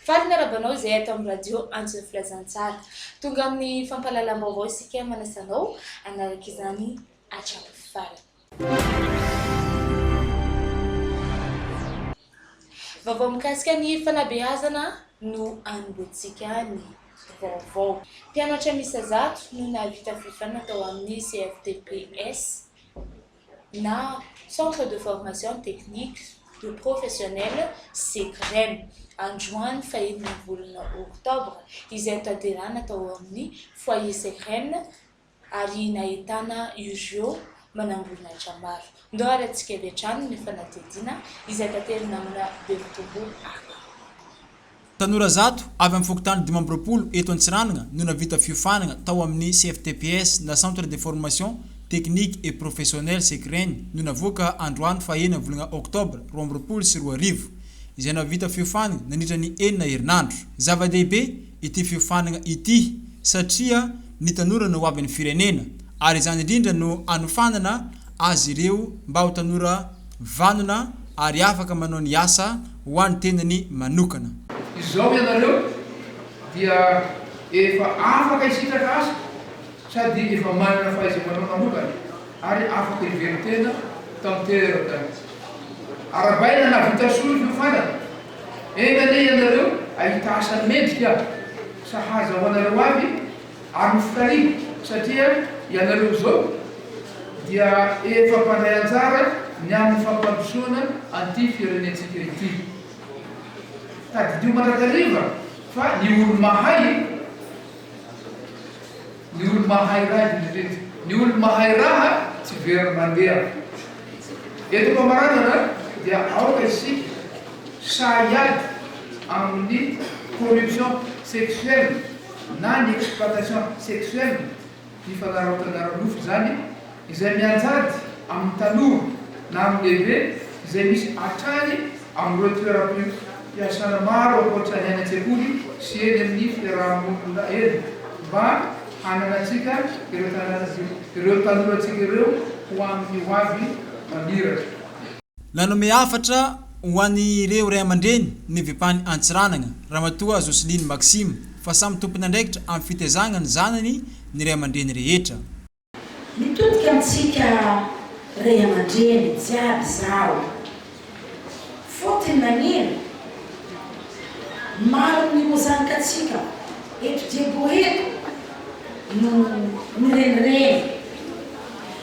Faly ny miarahaba anao izay ato amin'ny radio Antso ny Filazantsara. Tonga amin'ny fampahalalam-baovao isika manasa anao hanaraka izany hatramin'ny farany. Vaovao mikasika ny fanabeazana no anombohantsika ny vaovao. Mpianatra miisa zato no nahavita fifidianana tao amin'ny CFTPS na Centre de Formation Technique de Professionnel, Ceprem, androany fahenina volana oktobra, izay notanterahina tao amin'ny Foyer Ceprem, ary nahitana ireo manamboninahitra maro. Ndao harahintsika avy hatrany ny fanadihadiana izay tateriny namana Bevotombo Aka. Tanora zato avy amin'ny fokontany dimy amby roapolo eto Antsiranana no nahavita fiofanana tao amin'ny CFTPS na Centre de Formation Technique et Professionnelle Sekreny no navoaka androany faha enina volana oktobra roa amby roapolo sy roa arivo izay nahavita fiofanana nandritra ny enina herinandro. Zava-dehibe. ity fiofanana ity satria ny tanora no hoavin'ny firenena ary izany indrindra no anofanana azy ireo mba ho tanora vanona ary afaka manao ny asa ho an'ny tenany manokana. Izao ianareo dia efa afaka hisitraka asa. sady efa manana fahaiza-manao manokana ary afaka hivelon-tena tanteraka mihitsy. Arabaina nahavita soa ny fiofanana, enga anie ianareo hahita asa mendrika sahaza ho anareo avy ary ho fitariana satria ianareo izao dia efa mpandray anjara ny amin'ny fampandrosoana an'ity firenentsika ity. Tadidio mandrakariva fa ny olo-mahay. Ny olo mahay raha izy miteny. Ny olo mahay raha tsy very mandeha. Eto am-pamaranana dia aoka isika sahy hiady amin'ny corruption sexuelle na ny exploitation sexuelle. Fifanarahotana ara-nofo izany izay mianjady amin'ny tanora na amin'ny lehibe izay misy hatrany amin'ireo toeram-piasana maro ankoatra ny any an-tsekoly sy eny amin'ny fiaraha-monina eny mba hananantsika ireo tanorantsika ireo ho amin'ny hoavy maniraka. Nanome hafatra ho an'ireo ray aman-dreny ny vpan Antsiranana, Ramatoa Jocelyne Maxime, fa samy tompon'andraikitra amin'ny fitezagna ny zanany ny ray aman-dreny rehetra. Mitodika amintsika ray aman-dreny jiaby izaho. Fotony nagnino? Maro ny ho zanakantsika eto Diebohebo no mirenireny.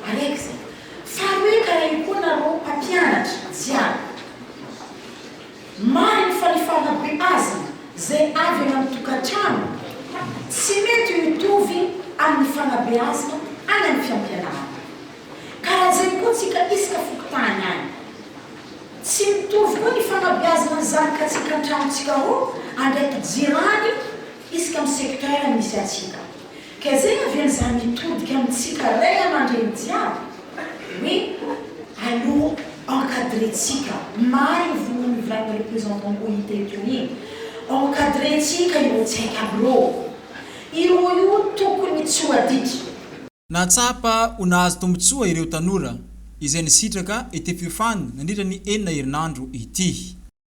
Manaiky izay. Faharoe, karaivo koa nareo mpampianatra jiaby. Marigny fa ny fanabeazana izay avy any amin'ny tokantrano tsy mety ho mitovy amin'ny fanabeazana any amin'ny fiampianarana. Karahaizay koa tsika isaka fokontany any. Tsy mitovy koa ny fanabeazana ny zanakatsika an-trano tsika roa andraiky jirany isaka amin'ny secteur misy antsika. Gezena ve izany mitodika amintsika ray aman-dreny jiaby hoe aleo encadrentsika, maro io vonoan'ny mivilaina representant OIT eto iny, encadrentsika ireo tsy haika amreo ireo io tokony tsy ho adika. Nahatsapa ho nahazo tombontsoa ireo tanora izay nisitraka ity fiofanana nandritra ny enina herinandro ity.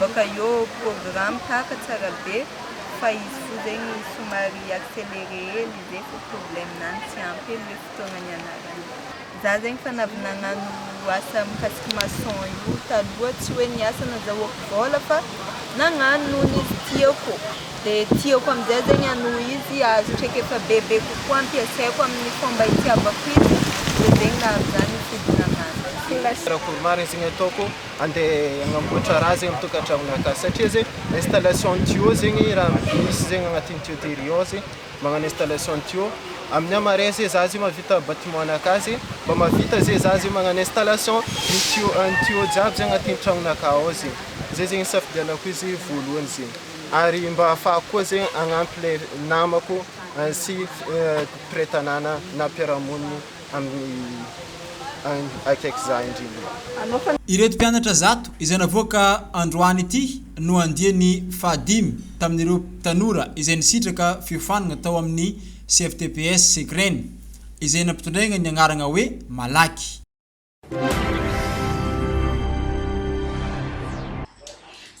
Baka eo programme tahaka tsara be fa izy fo zegny somary acceleré hely izy e fo problème nany tsy ampy hely hoe fotoagna nianaragna. Za zegny fa navy nagnano asa mikasiky maçon io taloha tsy hoe niasa nazahoako vôla fa nagnano noho ny izy tiako de tiako amizay zegny hanohy izy ahazo traikefa bebe kokoa ampiasaiko aminy fomba itiavako izy de zegny nahavy za nifidy nagnano. Karakory maresigny ataoko. andeha agnamboatra raha zegny tokantragno akasy satria zegny installation ny tuyau zegny raha misy zegny agnatin'ny tuyauterie ao zegny magnano installation ny tuyau amin'ny ahy marais ze za zegny mahavita bâtiment anakahy zegny mba mahavita ze za zegny magnano installation ny tuyau ny tuyau jiaby ze agnatin'ny tragnonakahy ao zegny zay zegny isafidianako izy voalohany zegny ary mba hahafahako koa zegny hagnampy le namako sy mpiray tanàna na mpiara-monina amin'ny akaiky za indrindra. Ireto mpianatra zato izay navoaka androany ity no andiany fahadimy tamin'ireo tanora izay nisitraka fiofanana tao amin'ny CFTPS Segreny izay nampitondraina ny agnarana hoe Malaky.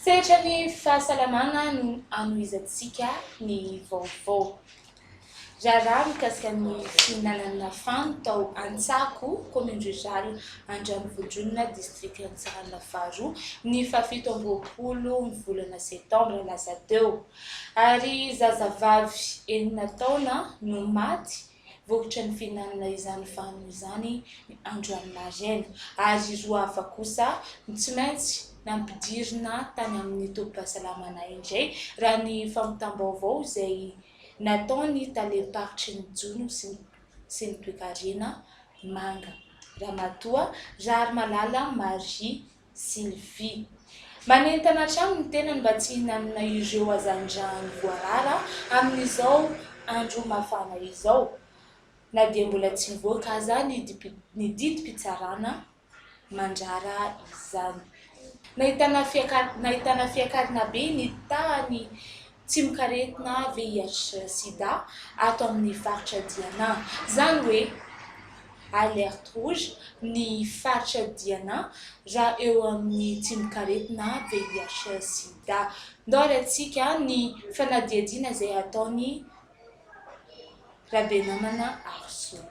Sehatra ny fahasalamana no anohizantsika ny vaovao. Raharaha mikasika ny fihinanana fano tao Antsako, commune rurale Andranovodronona, district Antsiranana faharoa, ny fahafito amby roapolo ny volana septambra lasa teo, ary zazavavy enina taona no maty Vokatry ny fihinanana izany vanio izany ny androany maraina, ary ireo hafa kosa no tsy maintsy nampidirina tany amin'ny tobim-pahasalamana indray, raha ny fampitam-baovao izay nataon'ny talem-paritry ny jono sy ny toekarena manga, Ramatoa Raharimalala Marie. Sylvie. Manentana hatrany ny tenany mba tsy hihinanana ireo hazandrano voarara amin'izao andro mafana izao, na dia mbola tsy nivoaka aza ny didim-pitsarana mandrara izany. Nahitana fiakarana be ny tahan'ny Tsy mikaretina VIH sida ato amin'ny faritra Diana. Izany hoe alerte rouge ny faritra Diana raha eo amin'ny tsy mikaretina VIH sida. Ndao alaintsika ny fanadihadiana izay ataon'i Rabenamana Arizona.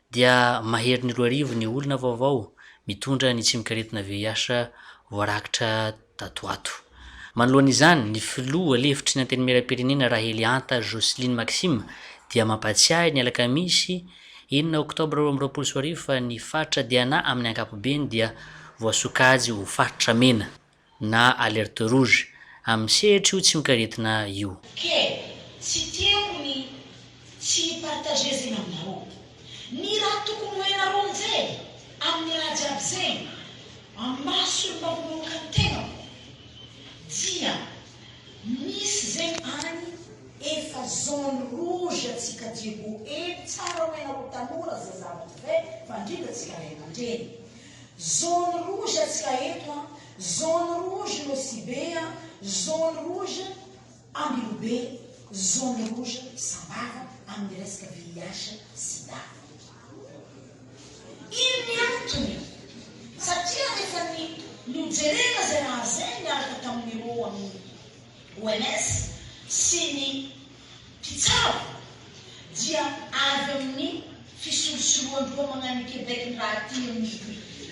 dia maherin'ny roa arivo ny olona vaovao mitondra ny tsimokaretina VIH voarakitra tato ho ato. Manoloana izany, ny filoha lefitry ny Antenimierampirenena Rahelianta Jocelyne Maxime dia mampatsiahy ny alakamisy enina oktobra roa amby roapolo sy roa arivo fa ny faritra Diana amin'ny ankapobeny dia voasokajy ho faritra mena. na alerte rouge, amin'ny sehatra io tsimok'aretina io. Ke, tsy tiako ny tsy hi-partager zegny aminarô. Ny raha tokony ho hainarô aminjay, amin'ny raha jiaby zegny, amin'ny maso ny manombokan tegnako, dia misy zegny agny efa zone rouge antsika jiaby io. Hevitsara ho hainarô tanora, zazavavy, mpivady, mpandrindra, antsika ray aman-dreny. Zone rouge atsika eto an, zone rouge Nosy be an, zone rouge Ambilobe, zone rouge Sambava amin'ny resaka VIH, sida. Ino ny antony? Satria rehefa ny nojerena izay raha izay niaraka tamin'ireo amin'ny. OMS, sy ny mpitsabo dia avy amin'ny fisolosoloan-doha mañan'i Québec ny raha aty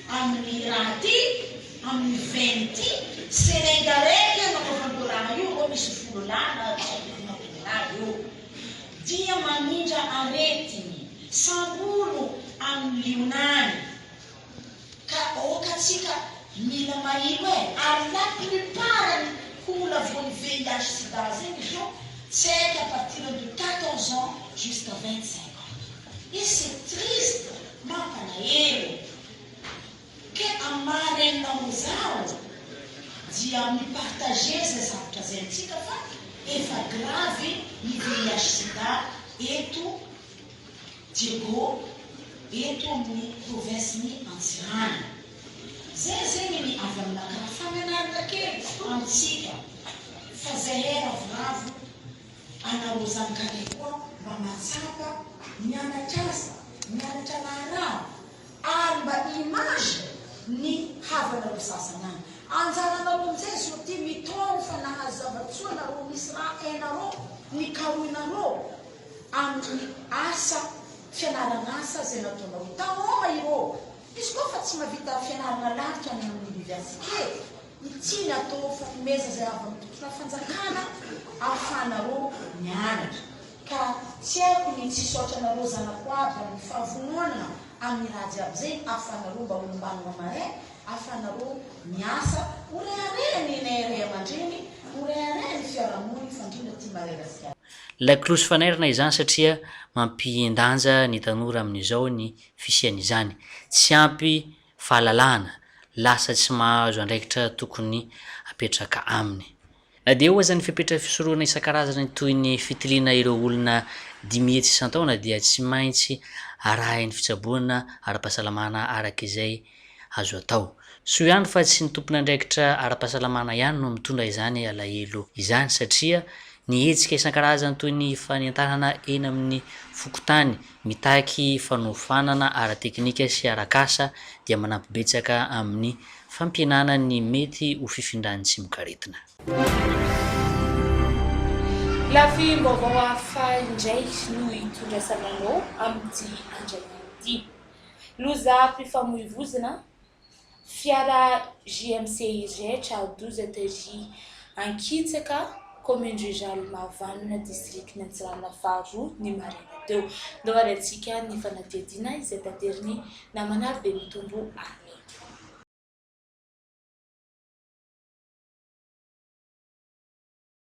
amin'ny raha aty amin'ny veine ity, Sénégalais io nanaovandreo raha io, ireo misy volo lahy na dimampolo lahy eo, dia mamindra aretigny, sambolo amin'ny liona any. Ka ok atsika mila maheno e! Ary la plupart ny hula voan'ny VIH sida zegny zao tsy haiko à partir de quatorze ans jusqu'à vingt cinq ans et c'est triste mampalahelo ke am maha renina ho zaho dia mi partager zay zavatra zay amintsika fa efa grave ny VIH sida eto Diego, eto amin'ny provinsin'i Antsiranana. Zay izay ny avy aminakahy. Fananarana kely amintsika fa zahay ravoravo ana Rozankare koa mba mahatsapa mianatra asa, mianatra raharaha ary mba image ny havanareo sasany any. Anjaranareo amin'izay zao ity mitaona fa nahazo zava-tsoa nareo misy raha hainareo, nikarohinareo. amin'ny asa fianaran'asa izay nataonao. Tanora ireo, izy koa efa tsy mahavita fianarana lalitra any amin'ny oniversite, ny tiany atao fanomeza izay avy amin'ny tontolon'ny fanjakana ahafahanareo mianatra. Ka tsy haiko ny tsy hisaotra anareo zanako aby amin'ny fahavononana amin'ny raha jiaby izay ahafahanareo mba ho ombanina marin, ahafahanareo miasa, ho reharehan'ny nenay ray aman-dreny, ho reharehan'ny fiarahamoniny fa indrindra aty Madagasikara. Lakolosy fanairana izany satria mampihen-danja ny tanora amin'izao ny fisian'izany. Tsy ampy fahalalahana, lasa tsy mahazo andraikitra tokony apetraka aminy. Na dia eo aza ny fepetra fisorohana isan-karazany toy ny fitiliana ireo olona dimy hetsy isan-taona dia tsy maintsy arahin'ny fitsaboana ara-pahasalamana araka izay Azo atao. Soa ihany fa tsy ny tompon'andraikitra ara-pahasalamana ihany no mitondra izany alahelo izany satria ny hetsika isan-karazany toy ny fanentanana eny amin'ny fokontany mitaky fanofanana ara-teknika sy arak'asa dia manampy betsaka amin'ny fampihenana ny mety ho fifindran'ny tsimokaretina. Lafim-baovao hafa indray no itondrasana anao amin'ity andrak'ity. Lozam-pifamoivoizina, fiara JMC Irgec à 12 TJ Ankitsaka, commune rurale Mahavanona, district Antsiranana faharoa, ny maraina teo. Ndao ary antsika ny fanadihadiana izay taterin'ny namana ary dia mitombo any.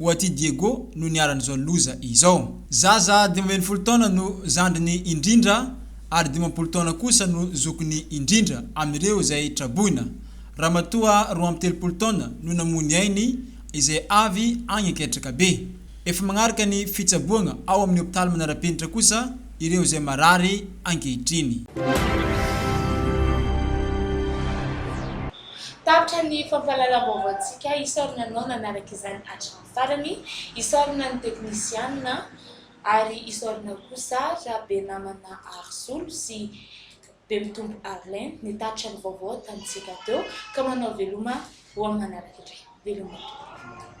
Oaty Diego no niharan'izao loza izao. Zaza dimy ambin'ny folo taona no zandriny indrindra ary dimampolo taona kosa no zokiny indrindra amin'ireo izay traboina. Ramatoa roa amby telopolo taona no namoy ny ainy izay avy any Anketrakabe. Efa magnaraka ny fitsaboagna ao amin'ny hopitaly manara-penitra kosa ireo izay marary ankehitriny. Tapitra ny fampahalalam-baovaontsika isaorana anao nanaraka izany hatramin'ny farany, isaorana ny teknisianina ary isaorana kosa Rabenamana Arizolo sy Bemitombo Arlene nitatitra ny vaovao tamintsika teo ka manao veloma ho amin'ny manaraka indray. Veloma tompoko.